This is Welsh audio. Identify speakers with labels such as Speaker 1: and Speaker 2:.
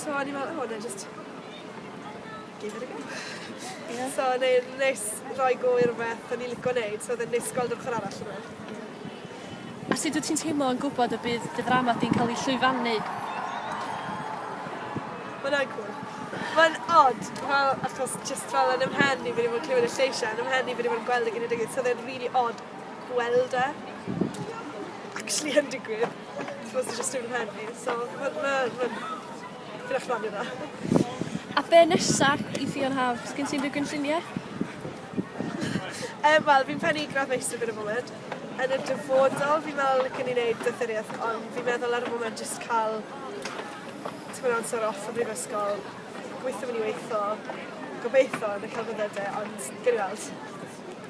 Speaker 1: So o'n i fel oh nâi jyst give it a go. Ie. So o'n i'n neis roi go i rwbeth o'n i lico neud so odd e'n neis gweld yr ochor arall o fe.
Speaker 2: A sut wyt ti'n teimlo yn gwybod y bydd dy ddrama di'n cael ei llwyfannu?
Speaker 1: Mae'n agwr. Mae'n od, fel, achos just fel yn ymhen i fi wedi bod yn clywed y lleisiau, yn ymhen i fi wedi bod yn gweld y genedigaeth, so oedd e'n rili od gweld e actually yn digwydd. Dwi jyst yn fy mhen i so ma' ma' ma'n dipyn o chwarae teg iddo. A be'
Speaker 2: nesa i Ffion Haf? 'Sgen ti unrhyw gynllunie? Yy
Speaker 1: wel fi'n pennu gradd meistr gyda bywyd. Yn y dyfodol fi'n meddwl licen i neud doethurieth ond fi'n meddwl ar y foment jyst ca'l tipyn o amser off o brifysgol, gweitho myn' i weitho, gobeitho yn y celfyddyde ond gewn ni weld.